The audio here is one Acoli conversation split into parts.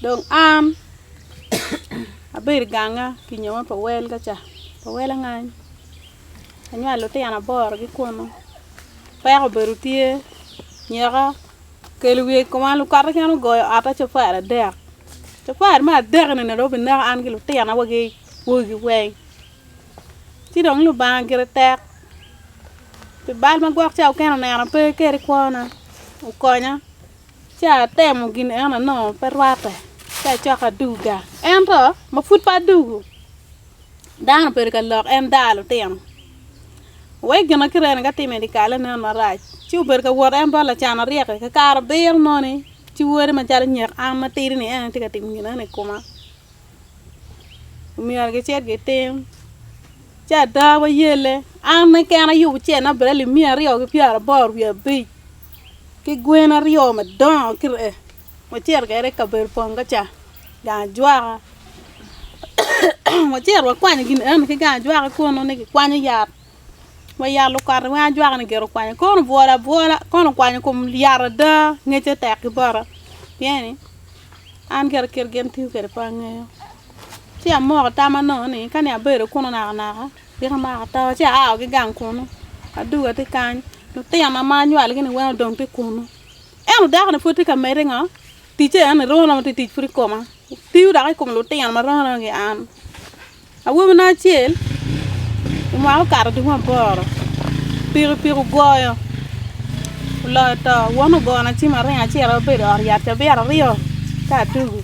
Dong an abedo i ganga ki nyo ma pa wel ka ca pa wel angany anywalo lutino aboro ki kunu peko bene tye nyoka okelo wiye i koma lukatte kene ogoyo ota cafari adek cafari me adek ni dong obineko an ki lutina wagi wegi weng ci dong lubanga gire tek pi bal ma gwok ca okene onena pe keri kwona okonya. Ci atemo gin eno anongo pe rwatte, ci acako aduga. Ento ma pud pe adugu, dano obedo ka lok en daa lutino. Wek gin ma kireni ka atimo i dye kal-le nen marac, ci obedo ka wot en bot lacan aryek-ki. Ka kare abiro moni, ci wode macalo nyek an matidi-ni en aye tye ka timo gin eno i koma, omyero gicit gitim. Ci ada wayelle, an keken ayubo ce nabialli miya aryo ki pyeraboro wiye abic, ki gwen aryo madongo kire, wacito kwede i kabedo pongo ca, gang ajwaka, wacito wakwanyo gin eno ni ki gang ajwaka kunu ni kikwanyo yat, wa yat lukati weng ajwaka-ni gire okwanyo kono obwolo abwola kono okwanyo kom yat ada, ngecce tek ki bota, pien-ni an kit gin tiyo kwede pe angeyo. Ci amoko tama nongo ni kani abedo kunu nakanaka tika amako atama. Ci aa ki gang kunu aduga tye kany lutina ma anywalgi-ni weng odong tye kunu. Ento dako-ni pud tye ka medde ngo ticce ento ni romo romo tye tic pud i koma tiyo dok i kom lutino ma romo romo ki an. Awobina acel mwaka okato dwe maboro pikipiki ogoyo oloyo to won ogona ci ma aringo acito abedo i ot yat cabito aryo ka adugu.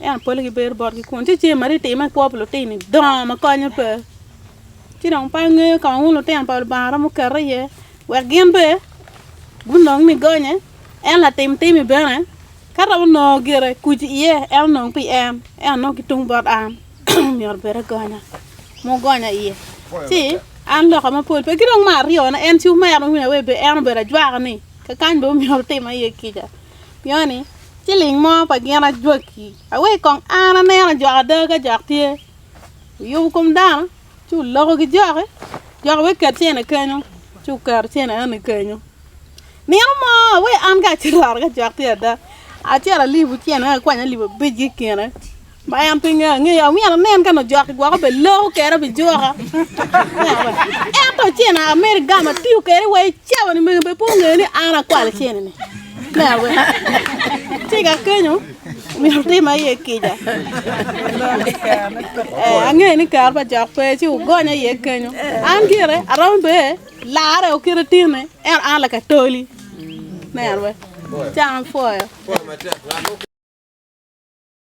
Ento pole gibedo botgi kun ci ce Maria itimo i kwo pa lutini dongo ma konye pe. Ci dong pe angeyo ka ma wun lutino pa Lubanga romo kete iye wek gin be gunong ni gonye. En latim timi bene ka romo nongo gire kuc iye en onong pi en ento nongo ki tung bot an myero obed agonya ma ogonya iye. Ci an loka mapol pe ki dong me aryone en ci omera ma wun aye en obedo ajwaka ni kakany bene myero otima iye kica. Pioni, ci ling mo pa gin ajwaki, awek kong an aneno ajok ada ka jok tye. Wuyubo kom dano, ci wuloko ki joki, jok wek ket cene kenyo, ci wuketo cene eno ni kenyo. Nino mo, awek an kacito ot ka jok tye ada, acito alibo cene eno akwanya alip abic ki i kine. Ma en pinge angeyo, amyero anen ka nongo jok gwoko bene loko kera obijuka. Ento cene amedo igamo atiyo kere wa icawa ni mege bene pe ongeyo ni an akwalo cene ni. Neno bene. Tika kenyo myero tim aye kica. Eh, angeyo ni kare pa jok pe ci ugonya iye kenyo. An gire aromo be lare okite tine en an lakatoli. Neno bene. Can pwoyo.